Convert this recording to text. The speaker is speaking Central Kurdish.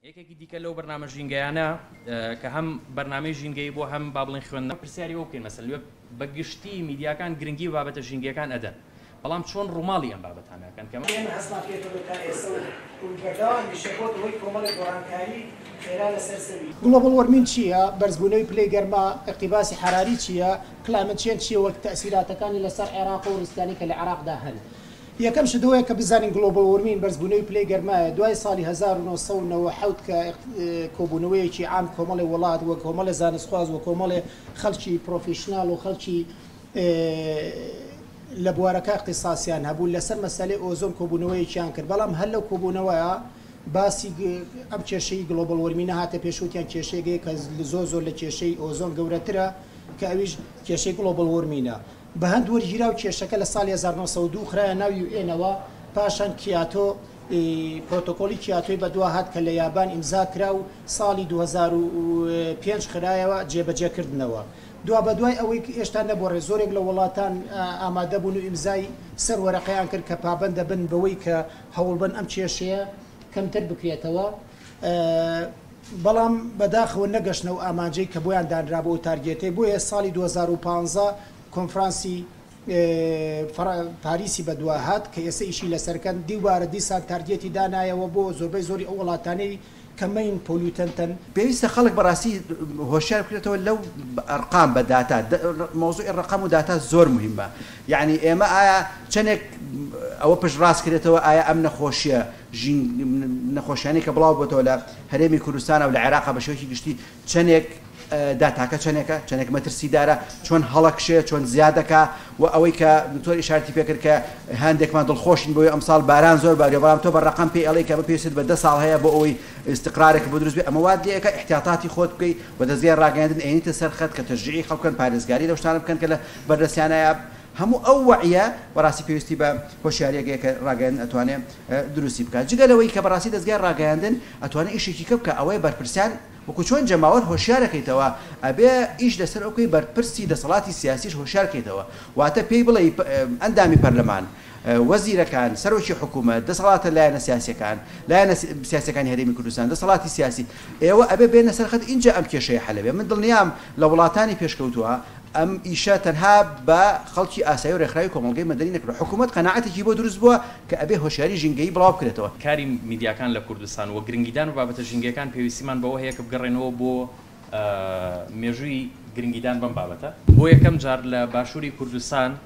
یەکێکی دیکە لەو بەرنامە ژینگەیانە کە هەم بەرنامەی ژینگەی بۆ هەم با بڵێن خوێندنە پرسیاری ئەو بکەین مەسەل بە گشتی میدیاکان گرنگی بابەتە ژینگەکان ئەدەن بەڵام چۆن ڕووماڵی ئەم بابەتانەکەن کە ئێمە هەستمان پێ کردووە تا ئێسە و بەردەوام دەشێبۆتە هۆی کۆمەڵێک گۆڕانکاری خێرا لەسەر زەوی. گڵۆبڵ وۆرمین چییە؟ بەرزبوونەوی پلەی گەرما، ئیقتیباسی حەراری، چییە؟ کلایمەت چێنج چییە و تەئسیراتەکانی لەسەر عێراق و ڕیسکانەی کە لە عێراقدا هەن؟ یەکەم شت ئەوەیە کە بزانین گلۆبڵ وۆرمین، بەرزبوونەوی پلەی گەرمایە، دوای ساڵی هەزار و نۆ سەد و نەوەد و حەوت کە کۆبوونەوەیەکی عام کۆمەڵێ وڵات و کۆمەڵێ زانستخواز و کۆمەڵێ خەڵکی پرۆفیشناڵ و خەڵکی لە بوارەکە ئیختیساسیان هەبوو لەسەر مەسەلەی ئۆزۆن کۆبوونەوەیەکیان کرد بەڵام هەر لەو کۆبوونەوەیە باسی ئەم کێشەی گلۆبڵ وۆرمینە هاتە پێش وتیان کێشەیەک هەیە کە زۆر زۆر لە کێشەی ئۆزۆن گەورەترە کە ئەویش کێشەی گلۆبڵ وۆرمینە. بەهەند وەرگیراو کێشەکە لە ساڵی هەزار و نۆ سەد و دوو خرایە ناو یو ئێنەوە، پاشان کیاتۆ ی پرۆتۆکۆڵی کیاتۆی بەدوا هات کە لە یابان ئیمزا کرا و ساڵی دوو هەزار و پێنج خرایەوە جێبەجێ کردنەوە دوابەدوای ئەوەی هێشتا نەبوەڕێ زۆرێک لە وەڵاتان ئامادە بوون و ئیمزای سەر وەرەقەیان کرد کە پابەندە بن بەوەی کە هەوڵبەن ئەم کێشەیە کەمتر بکرێتەوە. بەڵام بەداخەوە نەگەشتنە ئەو ئامانجەی کە بۆیان دانرابوو ئەو تارگێتەی بۆیە ساڵی دوو هەزار و پازدە کۆنفرانسی پاریسی بەدوا هات کە ئێستا ئیشی لەسەرکەن دیوبارە دیسان تارگێتی دانایەوە بۆ زۆربەی زۆری ئەو وڵاتانەی کە مەین پۆلیوتەنتەن. پێویستە خەڵک بەڕاستی هۆشیار بکرێتەوە لەو ئەرقام بە داتا مەوزوعی ڕەقەم و داتا زۆر موهیمە یەعنی ئێمە ئایا چەنێک ئەوە پشت ڕاست کرێتەوە ئایا ئەم نەخۆشیە ژین نەخۆشیانەی کە بڵاو بۆتەوە لە هەرێمی کوردستانا و لە عێراقا بە شێوەیەکی گشتی چەندێک دا تاکە چەندێکە چەندێک مەترسیدارە چۆن هەڵەکشێ چۆن زیاد دەکا و ئەوەی کە دکتۆر ئیشارەتی پێکرد کە هەندێکمان دڵخۆشین بۆی ئەمساڵ باران زۆر باریە بەڵام تۆ بە ڕقم پێی ئەڵێی کە بە پێویست بە دە ساڵ هەیە بۆ ئەوەی استقرارێک بۆ دروست بێ ئەمە وات لێ ئەکا احتیاطاتی خۆت بکەی و دەزگای ڕاگەیاندن ئەیەنیتە سەر خەت کە تەشجیعی خەڵک بکەن پارێزگاری لەو شتانە بکەن کە لە بەردەستیانایە هەموو ئەو وەعیە بەڕاستی پێویستی بە هۆشیاریەک هەیە کە ڕاگەیاندن ئەتوانێ دروستی بکات جگە لەوەی کە بەڕاستی دەزگای ڕاگەیاندن ئەتوانێ ئیشێکی کە بکا ئەوەیە بەرپرسیان وەکو چۆن جەماوەر هۆشیارەکەیتەوە ئەبێ ئیش لەسەر ئەو بکەی بەرپرسی دەسەڵاتی سیاسیش هۆشیار کەیتەوە واتە پێی بڵێی ئەندامی پەرلەمان وەزیرەکان سەرۆکی حکومەت دەسەڵاتە لایەنە سیاسیەکان لایەنە سیاسیەکانی هەرێمی کوردستان دەسەڵاتی سیاسی ئێوە ئەبێ بێنە سەر خەت ئینجا ئەم کێشەیە حەلەبێ من دڵنیام لە وڵاتانی پێشکەوتوە ئەم ئیشە تەنها بە خەڵکی ئاسایی و رێکخراوی کۆمەڵگەی مەدەنی نەکردوە، حکومەت قەناعەتێکی بۆ دروست بوە کە ئەبێ هۆشیاری ژینگەیی بڵاو بکرێتەوە. کاری میدیاکان لە کوردستان و گرنگیدان بە بابەتە ژینگەیەکان پێویستیمان بەوە هەیە کە بگەڕێنەوە بۆ مێژووی گرنگیدان بەم بابەتە. بۆ یەکەم جار لە باشووری کوردستان،